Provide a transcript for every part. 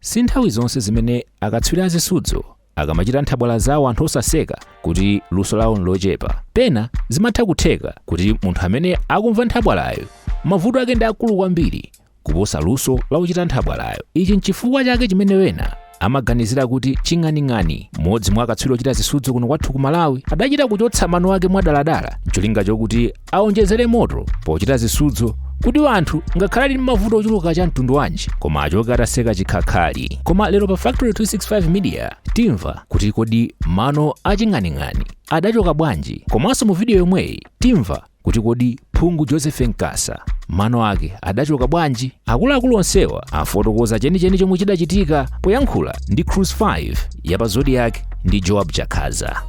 Si nthawi zonse zimene akatswiri a zisudzo akamachita nthabwala zawo anthu osaseka kuti luso lawo nlochepa. Pena zimatha kutheka kuti munthu amene akumva nthabwalayo mavuto ake ndi akulu kwambiri kuposa luso la wochita nthabwalayo. Ichi nchifukwa chake chimene ena amaganizira kuti ching'aning'ani mmodzi mwa akatswiri ochita zisudzo kuno kwathu ku Malawi adachita kuchotsa mano ake mwadaladala ncholinga chokuti Aonjezere moto pochita zisudzo kuti anthu ngakhale ali ndi mavuto ochuluka cha mtundu wanji koma achoke ataseka chikhakhali. Koma lero pa Factory 265 Media timva kuti kodi mano a Ching'aning'ani adachoka bwanji komanso mu video yomweyi timva kuti kodi phungu Joseph Nkasa mano ake adachoka bwanji. Akuluakulu onsewa afotokoza chenicheni chomwe chidachitika poyankhula ndi Cruz 5 ya pa Zodiac ndi Joab Chakhaza.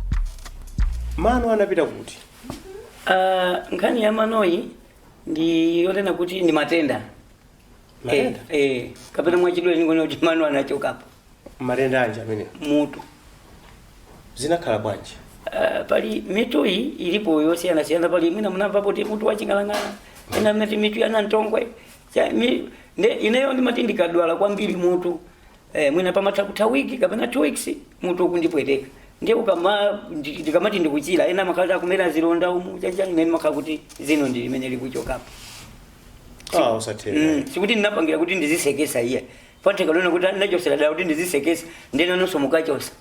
mano anapita kuti Ah, nkhani ya manoyi ndi yonena kuti ndi matenda Matenda? Eh, eh, kapena mwachidule ndingonena kuti mano anachokapo matenda anji amene mutu zinakhala bwanji Ah, pali mitu iyi ilipo yosiyanasiyana pali mwina munamvapo kuti mutu waching'alang'ala ena amati mitu ya nantongwe Cha- mi- nde- ineyo ndimati ndikadwala kwambiri mutu Eh, mwina pamatha kutha wiki kapena two weeks mutu ukundipweteka ndiye ukama ndi- ndikamati ndikuchira ndiye makhala akumera zilonda umu chachani mene makhala kuti zino ndi limene likuchokapo ah usatheka Mm, sikuti ndinapangira kuti ndizisekesa iye patheka ena kuti nachosera dala kuti ndizisekesa nde nanunso mukachosa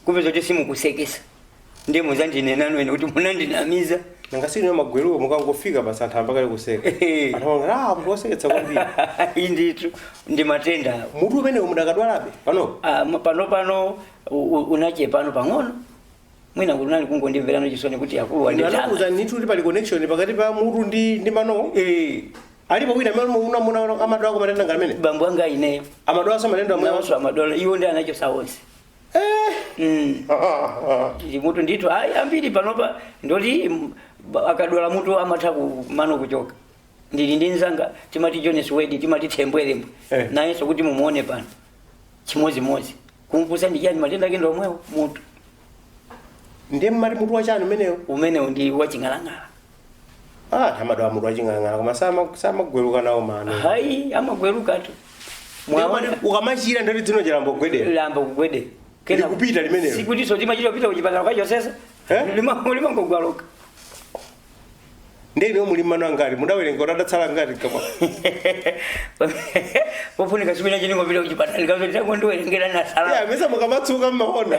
kupeza kuti simukusekesa ndiye muzandinena ine kuti munandinamiza nanga sinu magweruwa mukangofika basi anthu ayamba kale kuseka Eh. anthu amangoti ah munthu woseketsa kwambiri inditu ndi matenda awo mutu umenewo mudakadwalabe panopo Ah, ma- pano pano u- u- unachepako pang'ono mwina kuti unali kungondimverano chisoni kuti akulu anakuza wanditama nitu kuti pali connection pakati pa mutu ndi ndi manowo Eh, alipo wina amene kwanu amadwalako matenda ngamenewa bambo anga ineyo amadwalaso matenda amene naoso amadwala iwo ndi anachosa onse Mm. Ndi mutu ndithu ayi ambiri panopa nditi mm, ba- akadwala mutu amatha mano kuchoka ndili ndi nzanga timati jones wedi timati Thembwelembwe Eh. nayenso kuti mumuone pano chimodzimodzi kumfunsa ndi chani matenda ake ndomwewo mutu ndiye mmati mutu wachani umenewo umenewo ndi waching'alang'ala ah amadwala mutu waching'alang'ala koma sama- samagweruka nawo mano hayi amagwerukatu Mwaona? ukamachira ndoti dzino chi layamba kugwedera layamba kugwedera Likupita limenelo. sikutiso timachita kupita kuchipatala kukachosesa Eh? limangogweluka ndiye muli mano angati mudawerenga kuti adatsala angati koma pofunika chimene ndingopita kuchipatala akazotita kundiwerengera Yeah, anasala mesa mukamatsuka mmaona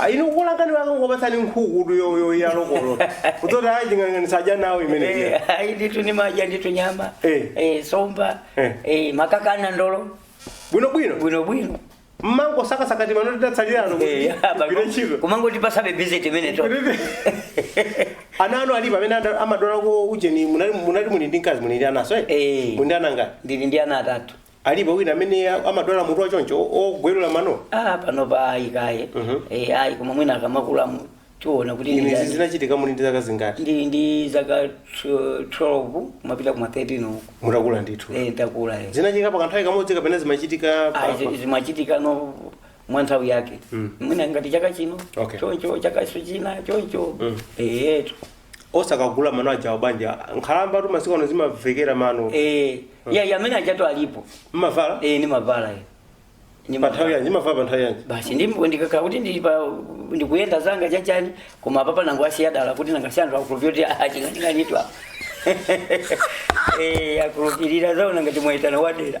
Ah, inu kulangani wake nkukupatsani nkhukutu yo- yo- ya lokolo kudzati ayi ching'aning'ani sadya nawo imeneyi Eh, ayi nditu ni madya nditu nyama Eh. eh, somba Eh. eh, makaka na ndolo bwinobwino bwino bwino mmango sakasakati mano adatsalirano Eh, apa- gwire ntchito kumangoti pasabe visit imene tu ana anu alipo amene ada- amadwala ko ujeni munali munali muli ndi mkazi muli ndi ananso eh? Eh. muli ndi ana angati ndili ndi ana atatu Alipo wina amene a- amadwala mutu wa choncho o- ogwerula mano? ah panopa ayi kaye Mhm. eh ayi koma mwina akamakula mu- tiona kuti Inu ndi izi ndani. zinachitika muli ndi zaka zingati? ndi ndi zaka tw- 12 kumapita kuma 13 uku Mutakula ndithu. eh ndakula eh Zinachitika pa kanthawi kamodzi kapena zimachitika pa- ayi zi- zimachitika no mwa nthawi yake Mm. mwina ngati chaka chino Okay. choncho chakanso china choncho Mm. eh etu osakagula mano aja abwanji nkhalamba tu masiku ano zimavekera mano eh ya ya amene ajatu alipo mumavala eh ndimavala eh ni pa nthawi yanji mumavala pa nthawi yanji basi ndimwe ndikakhala kuti ndili pa ndikuyenda zanga chachani koma apapa ndangowasiya dala kuti nanga si anthu akulupirira kuti a Ching'aning'ani tu Eh, akulupirira aziona ngati mwaitana wadera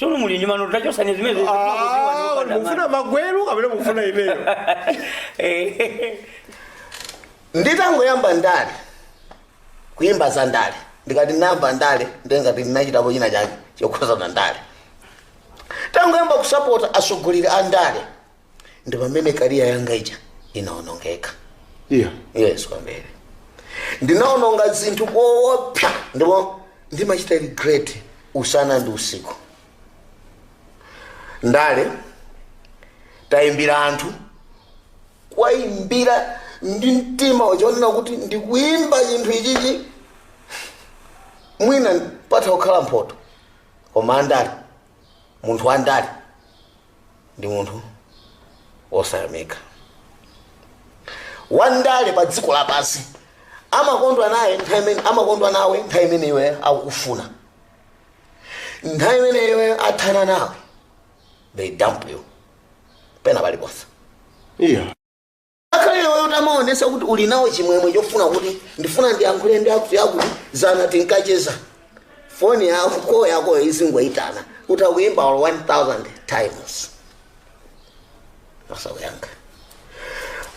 sono muli ndi mano tachotsani zimene Ah, kodi mukufuna magwero kapena mukufuna imeneyo nditangoyamba ndale kuyimba za ndale ndikati ndinayamba ndale ndiye ngati ndinachitapo china chake chokhudzana ndi ndale nditangoyamba kusapota atsogoleri a ndale ndi pamene kariya yanga ija inaonongeka iya yes kwambiri ndinaononga zinthu koopsa ndipo ndimachita regret usana ndi usiku ndale tayimbira anthu kuwayimbira ndi mtima woona kuti ndikuyimba chinthu ichichi mwina pangathe kukhala mphoto koma andale munthu wandale ndi munthu wosayamika wandale pa dziko lapansi amakondwa naye nthawi imene amakondwa nawe nthawi imene iwe akukufuna nthawi imene iwe athana nawe they dump you pena paliponse iya Ngakhale iweyo utamaonetsa kuti uli nawo chimwemwe chofuna kuti ndifuna ndiyankhule ndi akutiakuti dzana tinkacheza, foni yako koo yakoyo izingoyitana utayimba olo 1000 times osakuyankha.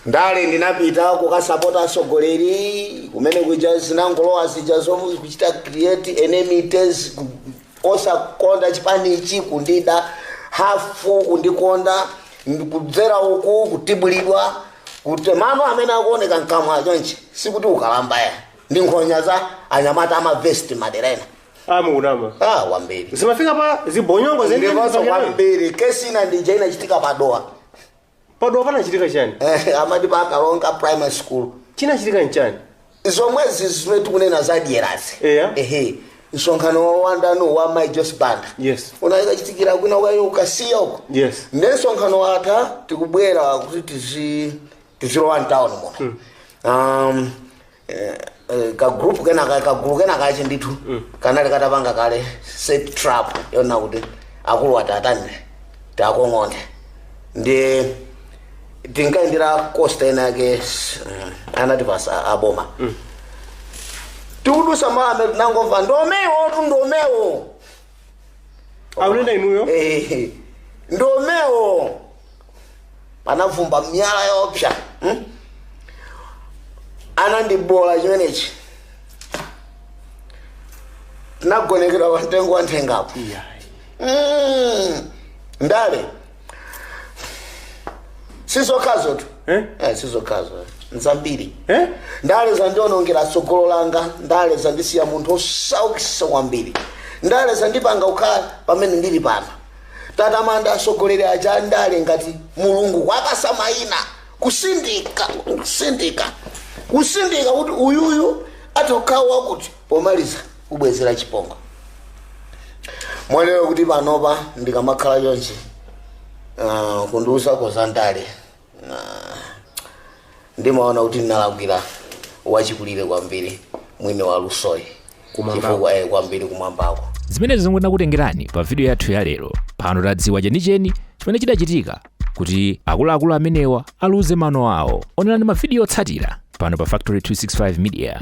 Ndale ndinapita kukasapota atsogoleri kumene kuja zinangolowa zija zomakachita create enmities ku- osakonda chipanichi kundida hafu kundikonda kudzera uku kutibulidwa kuti mano amene akuoneka mkamwa chonchi sikuti ukalamba ayi ndi nkhonya za anyamata amavesiti madera ena amukunama ah, wambiri zimafika pa zibonyongo ndiponso zenizipangirani kwambiri kesi ina ndija inachitika pa Dowa pa Dowa panachitika chani Eh, amati pa kalonga primary school chinachitika nchani zomwezi zimene tikunena za dyerazi Eya. ehe msonkhano wa wandano wa mai Joyce Banda Yes. unakachitikira kwina uko ku Kasiya uko Yes. nde msonkhano watha tikubwera kuti tizi tizilowa mtawuni muno um, ka group kena ka ka group kena kache ndithu kanali katapanga kale set trap yonena kuti akulu atatani takong'ondeni tinkayendera costa ena yake s- mm, anatipasa aboma tikudusa mame tinangomva ndomewotu ndomewo aunena inuyo Eh, ndomewo panavumbwa miyala yoopsa hmm? anandibola chimenechi tinagonekedwa pa mtengo wa nthengapo Mm, ndale sizokhazotu Eh? Eh, sizokhazo nzambiri Eh? ndale zandionongera tsogolo langa ndale zandisiya munthu osaukisa kwambiri ndale zandipanga kukhala pamene ndili pano tatamanda atsogoleri aja andale ngati mulungu kwa Kasamaina kusindika kusindika kusindika kuti uyuyu atokhawo wakuti pomaliza kubwezera chipongo mwa lero kuti panopa ndikamakhala chonchi uh, kundiuzako za ndale ndimaona kuti ndinalakwira wachikulire kwambiri mwini wa lusoyi Kumwambako. chifukwa eh, kwambiri kumwambako zimenezi nzomwe tinakutengerani pa vidiyo yathu ya lero pano tadziwa chenicheni chimene chidachitika kuti akuluakulu amenewa aluze mano awo onerani mavidiyo otsatira pano pa factory 265 media